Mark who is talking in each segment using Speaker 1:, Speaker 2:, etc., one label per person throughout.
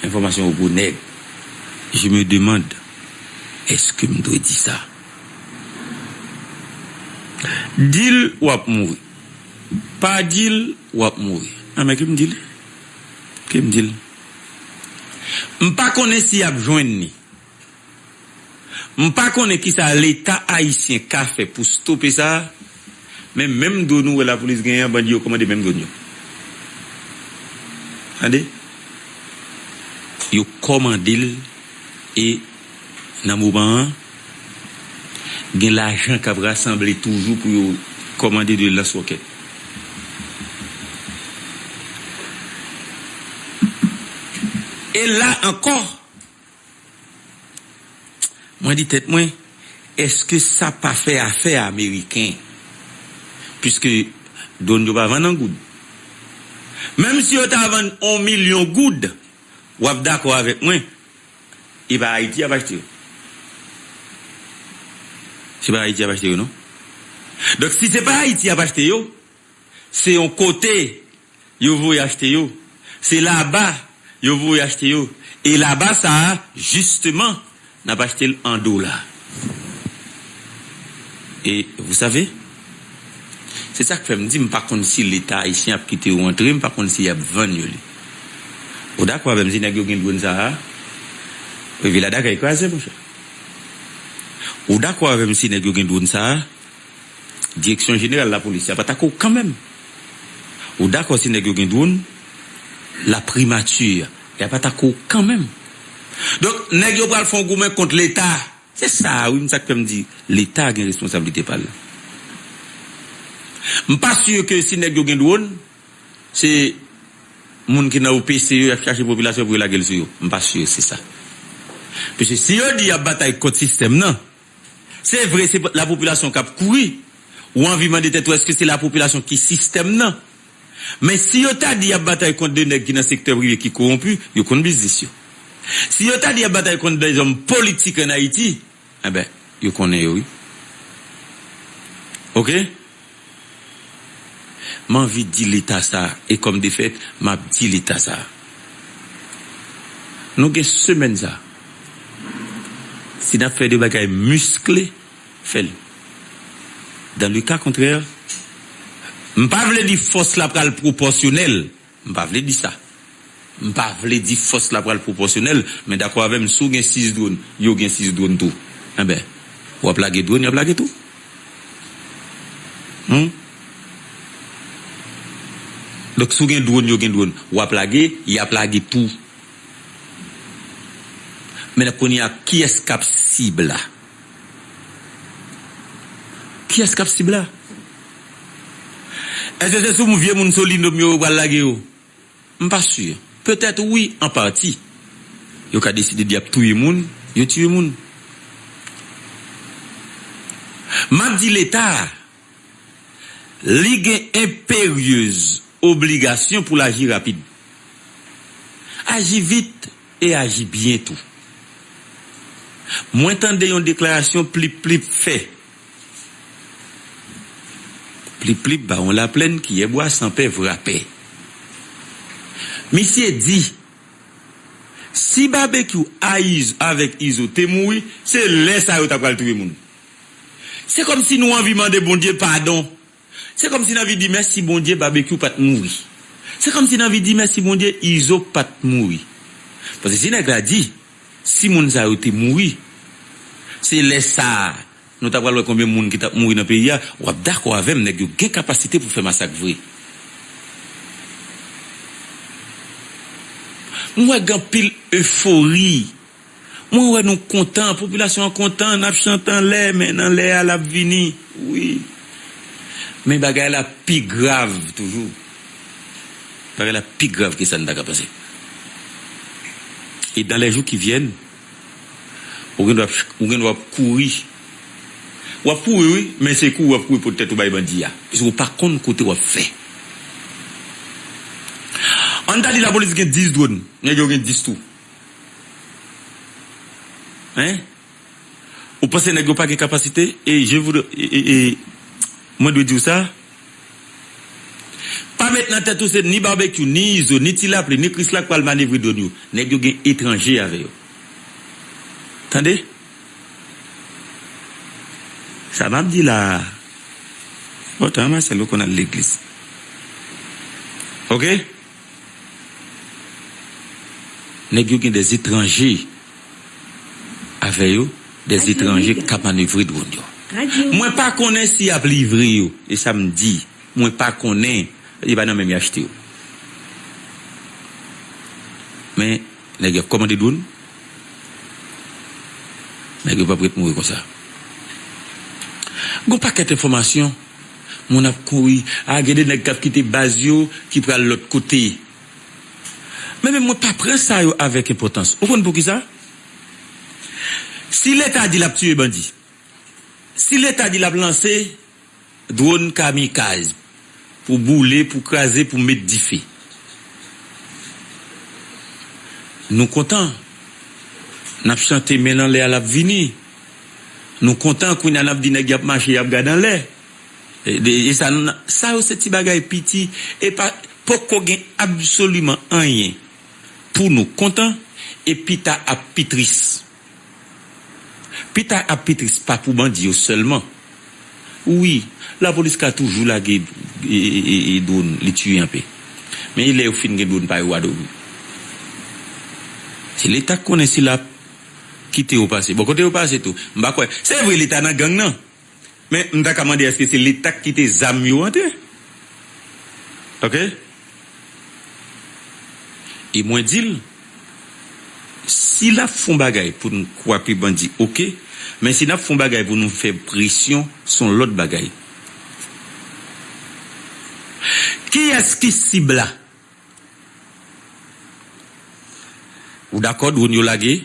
Speaker 1: Enfòmasyon gwo nèg. Je me demande est-ce que m dwe di sa? Di l w ap mouri. Pa di l w ap mouri. A men ke m di l. Ke m di l. M pa konnen si y ap jwenn li. M pa konnen kisa leta ayisyen ka fè pou stope sa, men menm dwon ou wè lapolis genyen an bandi yo kòmande menm dwon yo tande, yo kòmande l e nan moman an gen lajan kap rasanble toujou pou yo kòmande 2 lans wòkèt. E la ankò! Mwen di tèt mwen, èske sa pa fè afè ameriken? Piske dwòn yo pa vann an goud. Menm si yo ta vann on milyon goud, w ap dakò avèk mwen, e pa Ayiti y ap achte yo. Se pa Ayiti y ap achte yo non. Donk si se pa Ayiti y ap achte yo. Se yon kote yo voye achte yo. Se laba yo voye achte yo. E laba sa a, jisteman, n ap achte l an dola. E vousave? Se sa k fè m di m pa konn si Leta ayisyen ap kite yo antre, m pa konn si y ap vann yo li. Ou dakò avè m si nèg yo gen dwonn sa a? Vila Dakay kraze, monchè. Ou dakò avè m si nèg yo gen dwonn sa a? Direksyon jeneral lapolis ya pat ak ou kanmenm ou dakò si nèg yo gen dron la primati ya pat ak ou kanmenm donk nèg yo pral fon goumen kont leta se sa wi m sak fèm di leta gen responsablite pal m pa si ke si nèg yo gen dron se moun ki nan OPC yo yap chache popilasyon pou yo lagel sou yo m pa si se sa pise si yo di yap batay kont sistèm nan. Se vre se lapopilasyon k ap kouri, ou anvi mande tèt ou èske se lapopilasyon ki sistèm nan? Men si yo ta di y ap batay kont 2 nèg ki nan sektè prive ki kowonpi, yo konn biznis yo. Si yo ta di y ap batay kont dèzòm politik an Ayiti, enben yo konnen yo wi. Ok. M anvi di leta sa e kòm defèt m ap di leta sa. Nou gen semèn sa. Si n ap fè de bagay miskle, fè l. Dans le cas contraire, m pa vle di fòs la pral pwopòsyonèl. M pa vle di sa. M pa vle di fòs la pral pwopòsyonèl, men dakò avè m si w gen 6 dwòn, yo gen 6 dwòn tou. Enben, w ap lage dwòn, y ap lage tou. Hum? Donk, si w gen dwòn, yo gen dwòn, w ap lage, y ap lage tou. Menna, kounye a, kiyès k ap sib la? Kiyès kap sib la? Eske se sou m vye moun Solino m yo yo pral lage yo? M pa sur. Petèt wi an pati. Yo ka deside di yap touye moun, yo tiye moun. Map di leta a. Li gen enperyez obligasyon pou l aji rapid, aji vit e aji byen tou. Mwen tande yon deklarasyon Plip Plip fè. Plip Plip, bawon Laplèn, kiyè bwa, san pè, vrapè. Misye di, Si Babekyou a Izo avèk Izo te mouri, se lè sa yo ta pral touye moun. Se kòmsi nou anvi mande Bondye padon. Se kòmsi n anvi di mèsi Bondye Babekyou pa t mouri. Se kòmsi n anvi di mèsi Bondye Izo pa t mouri. Paske si nèg la di, si moun sa yo te mouri, se lè sa a nou ta pral wè konbyen moun ki t ap mouri nan peyi a, w ap dakò avè m nèg yo gen kapasite pou fè masak vre. M wè gen anpil efori. Mwen wè nou kontan, popilasyon an kontan, nap chante anlè, men nan lè a lap vini wi. Men bagay la pi grav toujou. Bagay la pi grav ke sa n ta ka panse. E dan lè jou ki vyèn, ou gen dwa ou gen dwa ap kouri. W ap kouri wi, men se kouri w ap kouri pot tèt ou bay bandi a, paske ou pa konn kote w ap fè. An n ta di lapolis gen 10 dwòn, nèg yo gen 10 tou. Hein ou panse nèg yo pa gen kapasite e je voudrais e mwen dwe diw sa pa met nan tèt ou se ni Barbecue ni Izo ni Ti Lapli ni Krisla k pral manevre dwòn yo nèg yo gen etranje avè yo tande sa map di la a bon tan Marcelo konn al legliz ok. Nèg yo gen dè etranje avè yo, dè etranje k ka manevre dronn yo. Mwen pa konnen si y ap livre yo, e sa m di, mwen pa konnen, e pa nan men m y achte yo. Men. Nèg yo ap kòmande dwon. Nèg yo pap ret mouri konsa. Gon pakèt enfòmasyon. Moun ap kouri. A gen de nèg kap kite baz yo ki pral lòt kote. Men menm mwen pa pran sa yo avèk enpòtans. Ou konn poukisa? Si leta di lap tiye bandi. Si leta di lap lanse Drone kamikaz pou boule pou kraze pou met dife Nou kontan Nap chante men l anlè a lap vini Nou kontan kounya nap di nèg yap mache yap gad anlè Esa nou nan Sa yo se ti bagay piti epa poko gen absoliman anyen pou nou kontan e pita ap pi tris. Pita ap pi tris pa pou bandi yo sèlman wi lapolis ka toujou lage drone li tiye anpe men e lè yo fin gen drone pa yo a domi se leta k konnen si lap kite yo pase bon kote yo pase tou m pa kwè se vre leta nan gang nan. Men m ta ka mande eske se leta k kite zam yo antre ok e mwen di l si l ap fon bagay pou n kwape bandi ok men si n ap fon bagay pou nou fè presyon s on lòt bagay. Kiyès ki sib la? Ou dakò drone yo lage?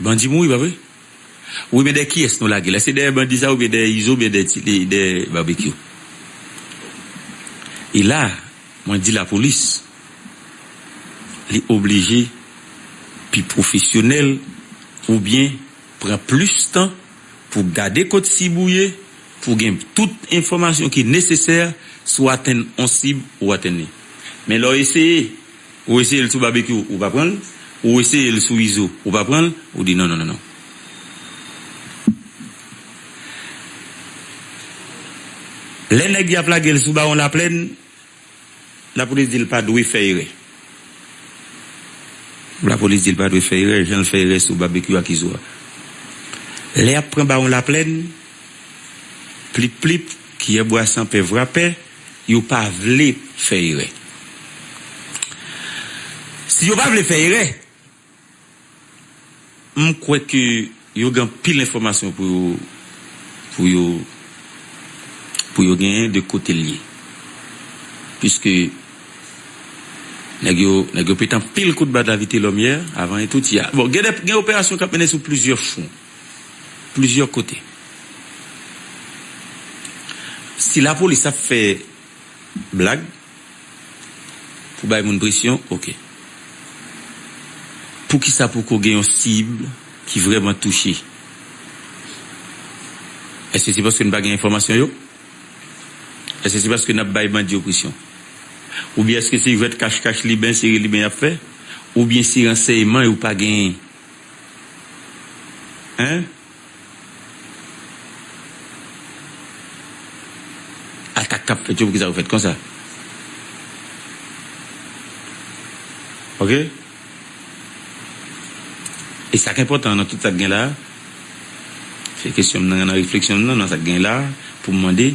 Speaker 1: Bandi mouri pa vre? Wi men dèyè kiyès nou lage la? Se dèyè bandi sa oubyen dèyè Izo oubyen dèyè Babekyou? E la mwen di lapolis li oblije pi pwofesyonèl oubyen pran plis tan. Pou gade kot sib ou ye pou gen tout enfòmasyon ki nesesè si w atenn on sib ou atenn li. Men lè w eseye, ou eseye l sou Babekyou ou pa pran l, ou eseye l sou Izo ou pa pran l, ou di non non non non. Lè nèg y ap lage l sou Bawon Laplèn, Lapolis di l pa dwe fè erè Lapolis di l pa dwe fè erè jan l fè erè sou Babekyou ak Izo a Lè y ap pran Bawon Laplèn Plip plip Kiyè bwa san pè vrapè Yo pa vle fè erè Si yo pa vle fè erè M kwè ke yo gen anpil enfòmasyon pou yo pou yo pou yo genyen de kote l ye. Piske nèg yo nèg yo pete anpil kout bad la Vitelòmyè avan e tout ya. Bon gen de gen operasyon k ap mennen sou plizyè fwon, plizyè kote. Si lapolis ap fè blag. Pou bay moun presyon, ok. Poukisa poko gen yon cible ki vrèman touche? Eske se paske nou pa gen enfòmasyon yo? Eske se paske nap bay bandi yo presyon? Oubyen eske se jwèt kach kach liben sere liben yap fè? Oubyen se ransèyman yo pa genyen? Hein? Atak kap fèt yo poukisa yo fèt konsa ok e sak enpòtan nan tout sak gen la se kesyon m nan nan refleksyon m nan nan sak gen la poum mande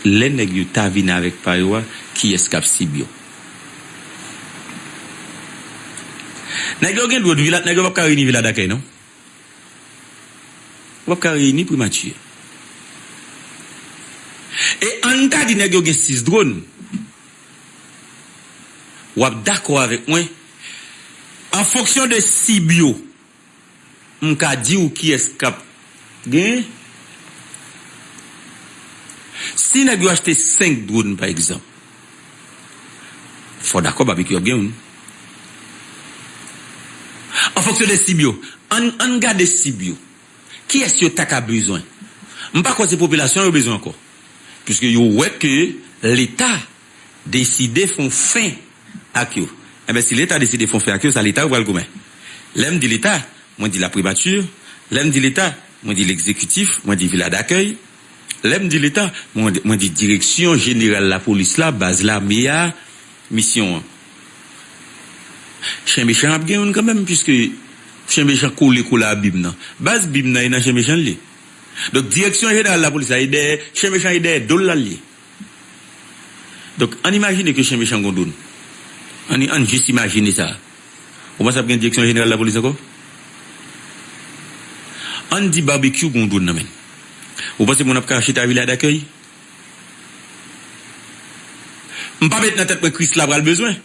Speaker 1: lè nèg yo ta vin avèk pa yo a kiyès kap sib yo nèg yo gen dwe dwi la nèg yo pap ka reyini vila dakèy non. W ap ka reyini primati a. E an n ta di nèg yo gen 6 dron. W ap dakò avèk mwen, an fonksyon de sib yo, m ka di w kiyès k ap genyen. Si nèg yo achte 5 dron pa egzanp. Fò w dakò babekyou ap gen youn. An fonksyon de sib yo, ann ann gade sib yo. Kiyès yo ta ka bezwen? M pa kwè se popilasyon an yo bezwen ankò. Piske yo wè ke leta deside fon fen ak yo. Enben si leta deside fon fen ak yo, sa leta yo pral goumen. Lè m di leta, mwen di lapribati, lè m di leta, mwen di legzekitif, mwen di vila dakèy, Lè m di Leta, mwen di Direksyon Jeneral Lapolis la, Baz Lame a, Misyon an. Chen mechan ap gen youn kanmenm piske chen mechan kole kola a bim nan. Baz bim nan e nan chen mechan l ye. Donk Direksyon Jeneral Lapolis la e dèyè chen mechan e dèyè do l la l ye. Donk, ann imajine ke chen mechan gon doun. Ann, ann jis imajine sa. Ou panse ap gen Direksyon Jeneral Lapolis ankò? Ann di Barbecue gon doun nan men l. Ou panse moun ap ka chita Vila Dakèy? M pa met nan tèt mwen Krisla pral bezwen.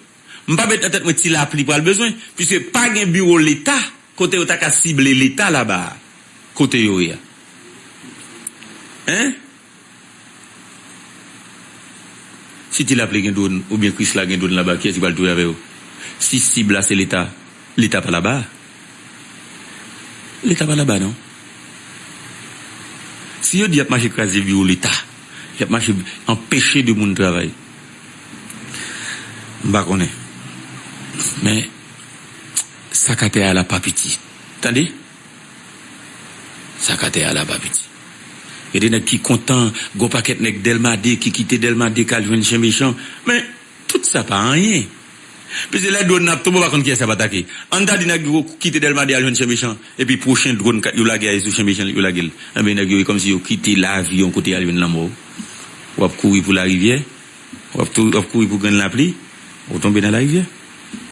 Speaker 1: M pa met nan tèt mwen ti lapli pral bezwen, puiske pa gen biwo leta kote yo ta ka sible leta laba a kote yo ye a. Hein? Si ti lapli gen dwon oubyen krisla gen dwon laba kiyès ki pral touye avè yo? Si sib la se leta, leta pa laba a. Leta pa laba non. Si yo di yap mache kraze biwo leta, yap mache anpeche de moun travay. M pa konnen. Men sak atè a la pa piti tande. Sak atè a la pa piti. Gen de nèg ki kontan, gon pakèt nèg Delma 2 ki kite Delma 2 k al jwenn chen mechan. Men tout sa pa anyen. Plizyè lè dwòn nan ap tonbe ou pa konn kiyès yap atake. Ann ta di nèg yo kite Dèlma 2 al jwenn Chen Mechan epi pwochen dwòn yo lage a e sou Chen Mechan yo lage l. Enben nèg yo e kòmsi yo kite lavi yon kote al jwenn lanmò. Ou ap kouri pou larivyè, ou ap kouri pou grenn lapli, ou tonbe nan larivyè.